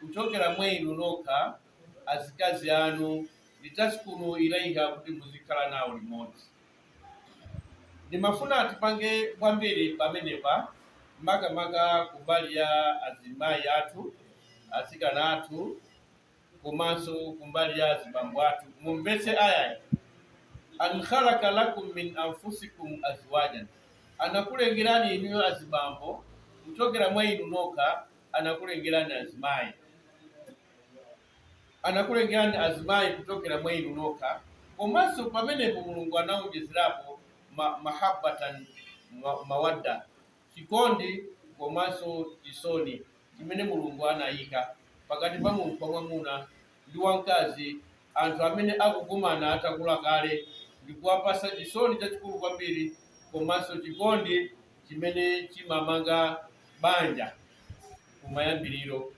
kuchokera mwa inu nokha, azikazi anu, litaskunu ilaiha, kuti muzikhala nawo limodzi. Ndimafuna tipange kwambiri pamenepa, makamaka kumbali ya azimayi athu, atsikana athu, komanso kumbali ya azibambo athu. Mumvetse ayayi, an khalaqa lakum min anfusikum azwajan, anakulengerani inuyo azibambo kuchokera mwa inu nokha anakulengerani azimayi. Anakulengerani azimayi kuchokera mwa inu nokha. Komanso pamenepo Mulungu anawonjezerapo ma, mahabbatan ma, mawadda, chikondi komanso chisoni chimene Mulungu anayika pakati pa munthu wamwamuna ndi wamkazi, anthu amene akukumana atakula kale, ndi kuwapatsa chisoni chachikulu kwambiri komanso chikondi chimene chimamanga banja kumayambiriro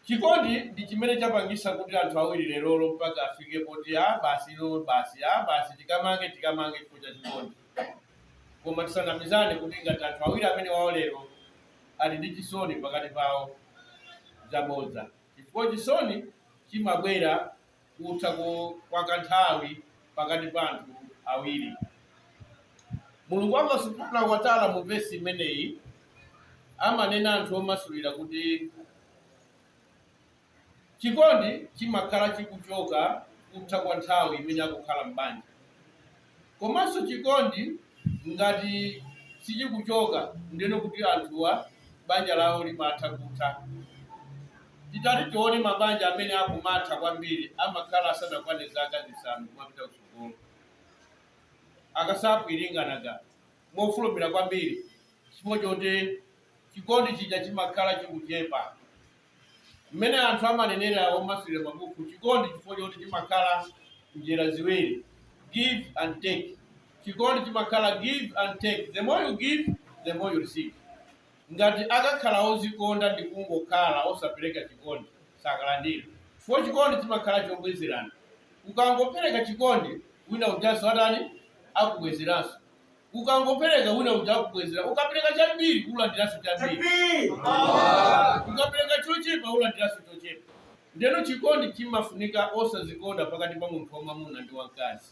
chikondi ndi chimene chapangisa kuti anthu awiri lerolo mpaka afike poti a basi ilo basi a basi tikamange tikamange chifukwa cha chikondi koma tisanamizane kuti ngati anthu awiri amene wawo lero ali ndi chisoni pakati pawo zabodza chifukwa chisoni chimabwera kutha kwa kanthawi pakati pa anthu awiri. Mulungu Allah subhanahu wa ta'ala mu vesi imeneyi amanena anthu omasulira kuti chikondi chimakhala chikuchoka kutha kwa nthawi imene akukhala m'banja komanso chikondi ngati sichikuchoka ndeno kuti anthuwa banja lawo limatha kutha. Titati tione mabanja amene akumatha kwambiri amakhala asanakwane zaka zisanu kumapita kutsogolo. Akusapulinganaga mofulumira kwambiri chifukwa choti chikondi chija chimakhala chikuchepa. Mmene anthu amanenera omasulira mabuku, Chikondi chifukwa choti chimakhala njira ziwiri, give and take. Chikondi chimakhala give and take, the more you give, the more you receive. Ngati akakhala ozikonda ndi kungokhala osapereka chikondi, sakalandira. Chifukwa chikondi chimakhala chobwezerana. Ukangopereka chikondi, wina ujanso atani? Akubwezeranso. ukangopereka wina uja akubwezera ukapereka chambiri ulandiranso chambiri Takbir. ukapereka chochepa ulandiranso chochepa ndeno chikondi chimafunika osazikonda pakati pa munthu wamwamuna ndi wamkazi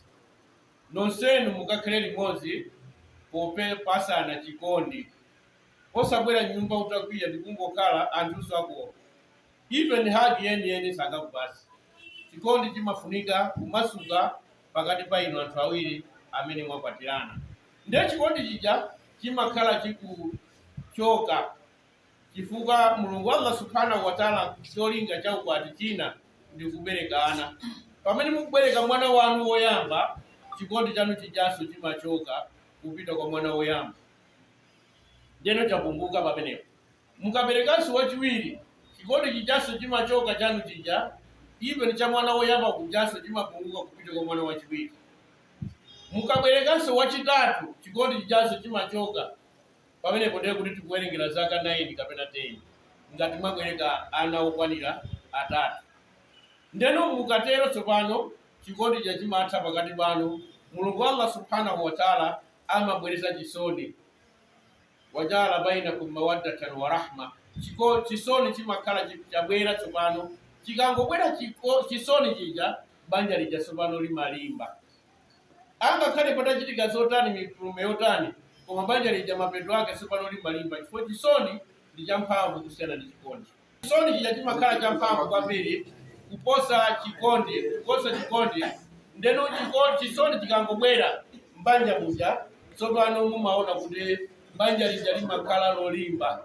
nonsenu mukakhale limodzi popepatsana chikondi osabwera m'nyumba utakwiya ndikungokhala anthunso akuopa even hagi yeniyeni sangakupatse chikondi chimafunika kumasuka pakati pa inu anthu awiri amene mwakwatirana. Ndiye chikondi chija chimakhala chikuchoka chifukwa Mulungu Allah subhanahu wa ta'ala cholinga cha ukwati china ndi kubereka ana. Pamene mukubereka mwana wanu woyamba, chikondi chanu chijanso chimachoka kupita kwa mwana woyamba. Ndiyeno chapunguka pamenepo. Mukaberekanso wachiwiri, chikondi chijanso chimachoka chanu chija even cha mwana woyamba kujanso chimapunguka kupita kwa mwana wachiwiri. Mukaberekanso wachitatu, chikondi chijanso chimachoka. Pamenepo ndiye kuti tikuwerengera zaka 9 kapena 10 ngati mwabereka ana okwanira atatu. Ndiyeno mukatero tsopano chikondi chija chimatha pakati panu, Mulungu Allah Subhanahu wa Ta'ala amabweretsa chisoni. wa ja'ala bainakum mawaddatan wa rahma chiko chisoni chimakhala chi- chabwera tsopano chikangobwera chiko- chisoni chija banja lija tsopano limalimba angakhale patachitika zotani mitume yotani koma banja lija mapeto ake tsopano limalimba chifukwa chisoni ndi champhamvu kusiyana ndi chikondi Chisoni chija chimakhala champhamvu kwambiri kuposa chikondi, kuposa chikondi. Ndiyeno chiko- chisoni chikangobwera m'banja muja, tsopano mumaona kuti banja lija limakhala lolimba.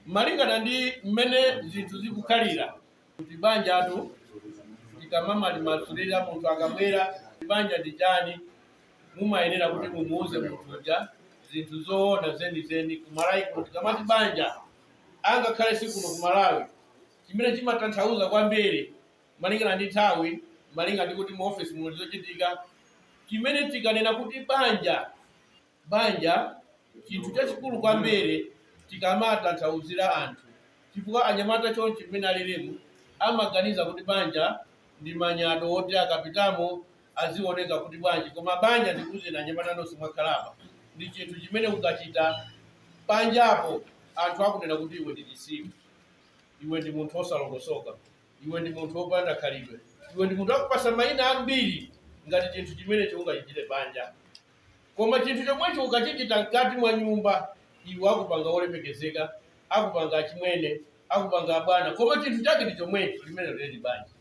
Malingana ndi mmene zinthu zikukhalira, kuti banjatu tikamalimasulira munthu akabwera kuti banja ndi chani mumayenera kuti mumuuze munthu uja zinthu zoona zenizeni kumalawi kuno tikamati banja angakhale si kuno kumalawi chimene chimatanthauza kwambiri malingana ndi nthawi malinga ndi kuti mu office muno zochitika chimene tikanena kuti banja banja chinthu chachikulu kwambiri tikamatanthauzira anthu chifukwa anyamata chonchi mmene alilimu amaganiza kuti banja ndi manyado woti akapitamo azioneka kuti bwanji koma banja ndikuuzeni anyamata nonse mwakhala apa ndi chinthu chimene ukachita panjapo anthu akunena kuti iwe ndi chisiru iwe ndi munthu wosalongosoka iwe ndi munthu wopanda khalidwe iwe ndi munthu akupasa mayina ambiri ngati chinthu chimenecho ungachitire panja Koma chinthu chomwecho ukachichita mkati mwa nyumba, iwo akupanga wolemekezeka, akupanga achimwene, akupanga abwana, koma chinthu chake ndi chomwecho, limenelo liri banja.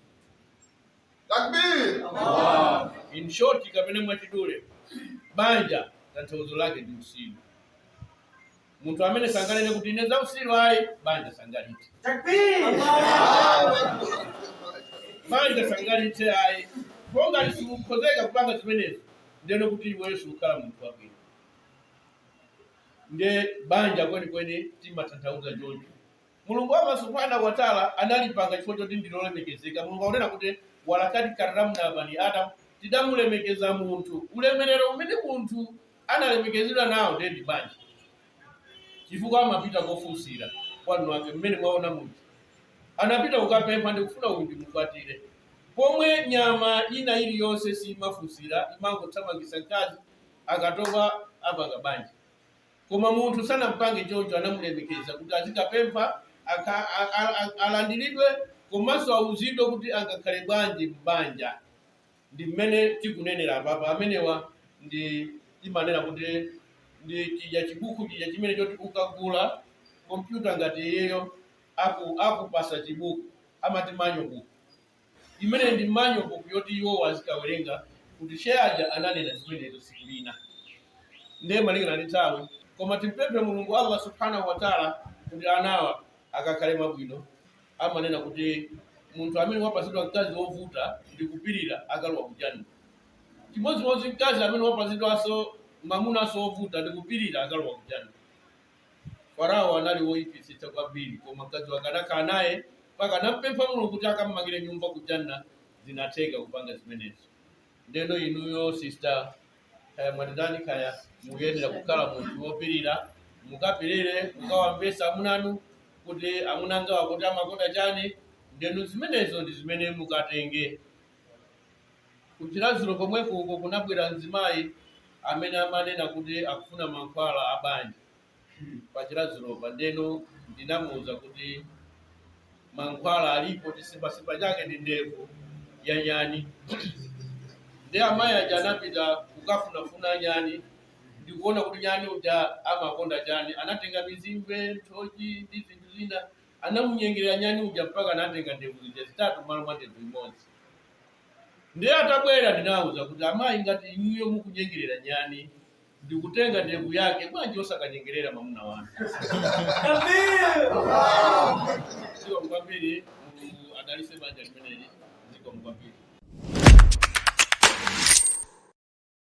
Takbir! In short, kapena mwachidule, banja tanthauzo lake ndi utsiru. munthu amene anganene kuti ine zautsiru ayi banja sangalithe banja sangalithe ayi pongati sikukhozeka kupanga zimenezo ndiyeno kuti iweyo sikukhala munthu wabwino nde banja kwenikweni timatanthauza choncho Mulungu, Allah Subhaanah wa Ta'la, analipanga chifukwa choti ndi lolemekezeka. Mulungu akunena kuti, Walaqad karramna bani Adam, tidamulemekeza munthu. Ulemerero umene munthu analemekezedwa nawo ndiye ndi banja, chifukwa amapita kofunsira kwa anthu ake mmene mwaona munthu anapita kukapempha ndikufuna uyu ndimukwatire, pomwe nyama ina iliyonse simafunsira, imangothamangisa mkazi akatopa apanga banja. Koma munthu sanampange choncho, anamulemekeza kuti azikapempha, a, a, a, alandilidwe komanso auzidwe kuti angakhale bwanji m'banja ndi mmene tikunenera apapa amenewa nde timanena kuti ndi chija chibuku chija chimene choti ukagula kompyuta ngati iyeyo akupasa chibuku amati manyo buku Imeneyo ndi manual book yoti iwowo azikawerenga kuti Che aja ananena zimenezo tsiku lina. Ndiye malingana ndi nthawi koma timpemphe Mulungu Allah Subhaanah wa Ta'la kuti anawa akakhale mwabwino. Amanena kuti munthu amene wapatsidwa mkazi wovuta ndi kupilira akalowa ku Jannah. Chimodzimodzi mkazi amene wapatsidwanso mamunanso wovuta ndi kupilira akalowa ku Jannah. Farawo anali woipitsitsa kwambiri, koma mkazi wake anakhala naye mpaka anampempha Mulungu kuti akammangire nyumba ku Jannah, zinatheka kupanga zimenezo. Ndeno inuyo sister, kaya mwatitani kaya mukuyenera kukhala munthu wopirira, mukapirire mukawamvetse amuna anu kuti amuna angawa kuti amakonda chani, ndeno zimenezo ndi zimene mukatenge. Ku Chiradzulu komweko uko kunabwera mzimayi amene amanena kuti akufuna mankhwala a banja pa Chiradzulopa, ndeno ndinamuuza kuti mankhwala alipo, chizimbazimba chake ndi ndevu ya nyani. Nde amayi aja anapita kukafunafuna nyani ndikuona kuti nyani uja amakonda chani, anatenga mizimbe, nthochi ndi zinthu zina, anamunyengerera nyani uja mpaka anatenga ndevu zija zitatu mmalo mwa ndevu imodzi. Ndiye atabwera ndinawauza kuti, Amayi, ngati inuyo mukunyengerera nyani ndi kutenga ndevu yake, bwanji osakanyengerera mwamuna wanu? Zikomo kwambiri. Mulungu adalitse banja limeneli. Zikomo kwambiri.